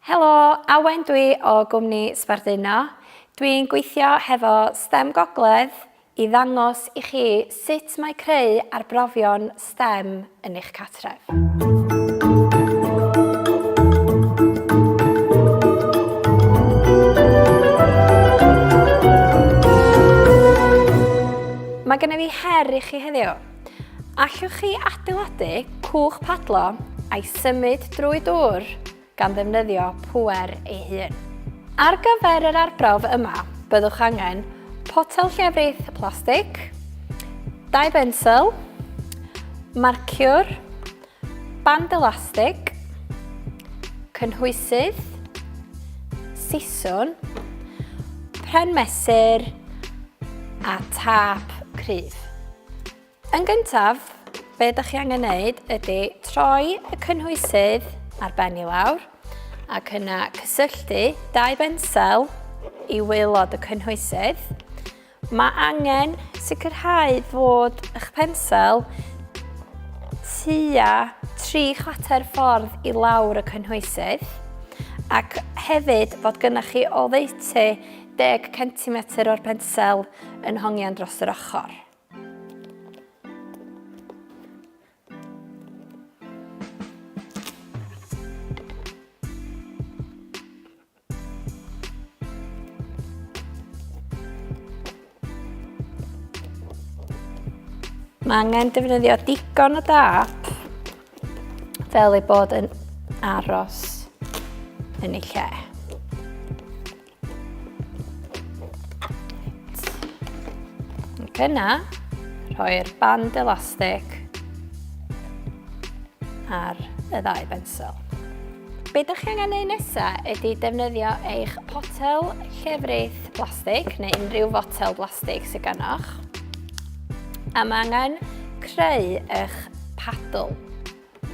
Helo, Awen dwi o gwmni Sbarduno. Dwi'n gweithio hefo stem Gogledd i ddangos i chi sut mae creu arbrofion stem yn eich cartref. Mae gennyf fi her i chi heddiw. Allwch chi adeiladu cwch padlo a'i symud drwy dŵr gan ddefnyddio pŵer ei hun. Ar gyfer yr arbrawf yma, byddwch angen potel llefrith plastig, dau bensel, marciwr, Band elastig, cynhwysydd, siswn, pren mesur a tap cryf. Yn gyntaf, be ydych chi angen wneud ydy troi y cynhwysydd ar ben i lawr ac yna cysylltu dau bensel i waelod y cynhwysydd Mae angen sicrhau fod eich pensel tua tri chwater ffordd i lawr y cynhwysydd ac hefyd fod gynnwch chi oddeutu 10 centimetr o'r pensel yn hongian dros yr ochr. Mae angen defnyddio digon o dap fel ei bod yn aros yn ei lle. Ac yna, rhoi'r band elastig ar y ddau bensel. Be da chi angen ei nesa ydy defnyddio eich potel llefrith blastig neu unrhyw fotel blastig sydd ganoch. A mae angen creu eich padl.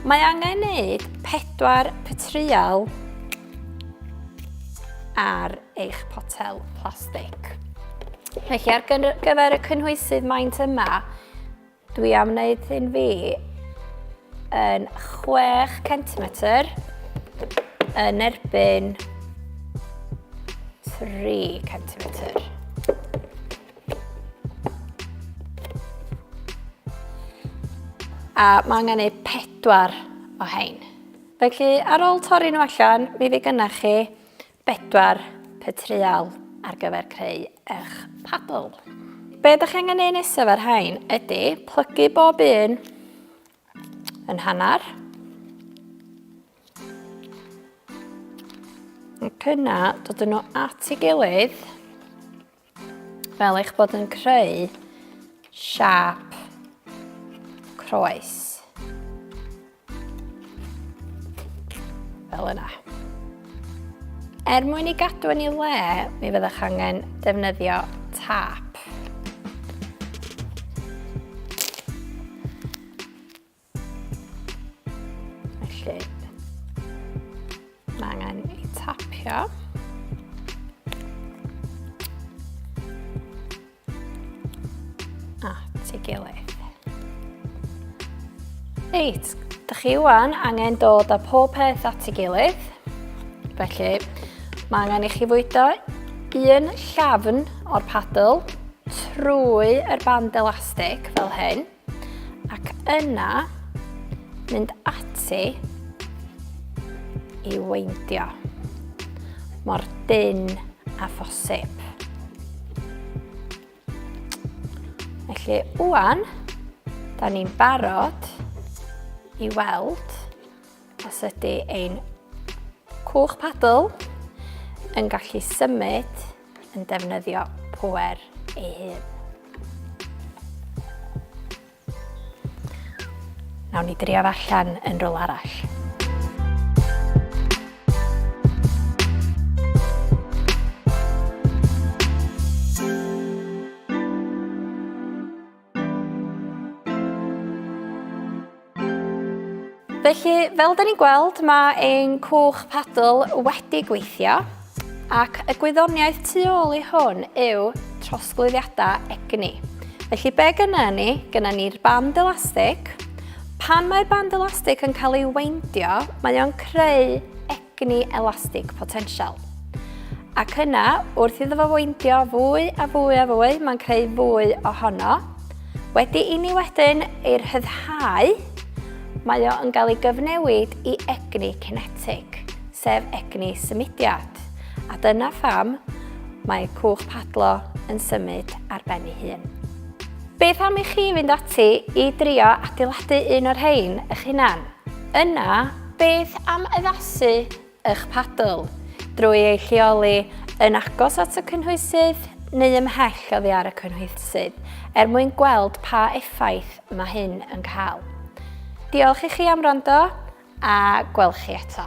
Mae angen neud pedwar petrial ar eich potel plastig. Felly ar gyfer y cynhwysydd maint yma, Dwi am wneud hyn fi yn 6 centimetr yn erbyn 3 centimetr. A mae angen ei pedwar o hein. Felly, ar ôl torri nhw allan, mi fe gynnach chi 4, Pa treial ar gyfer creu eich padl? Be ydych chi angen neud nesaf ar rhain ydy plygu bob un yn hanner. Ac yna dod yn nhw at ei gilydd Fel eich bod yn creu siap croes. Fel yna. Er mwyn i gadw yn ei le, mi fyddwch angen defnyddio tap. Felly, mae angen ei tapio. A, ti gilydd. Reit, da chi wan angen dod â pob peth at ei gilydd. Felly, mae angen i chi fwydo un llafn o'r padl trwy yr band elastig fel hyn. Ac yna, mynd ati i weindio mor dyn a phosib. Felly, wwan, da ni'n barod i weld os ydy ein cwch padl yn gallu symud yn defnyddio pŵer ei hun. Nawn ni drio allan yn rôl arall. Felly, fel da ni'n gweld, mae ein cwch padl wedi gweithio ac y gwyddoniaeth tu ôl i hwn yw trosglwyddiadau egni. Felly be gyna ni? Gyna ni'r band elastig. Pan mae'r band elastig yn cael ei weindio, mae o'n creu egni elastig potensial. Ac yna, wrth iddo fo weindio fwy a fwy a fwy, mae'n creu fwy ohono. Wedi i ni wedyn ei rhyddhau, mae o yn cael ei gyfnewid i egni kinetic, sef egni symudiad. A dyna pham mae cwch padlo yn symud ar ben ei hun. Beth am i chi fynd ati i drio adeiladu un o'r rhain eich hunan? Yna, Beth am addasu eich padl drwy ei lleoli yn agos at y cynhwysydd neu ymhell oddi ar y cynhwysydd er mwyn gweld pa effaith mae hyn yn cael? Diolch i chi am wrando a gweld chi eto.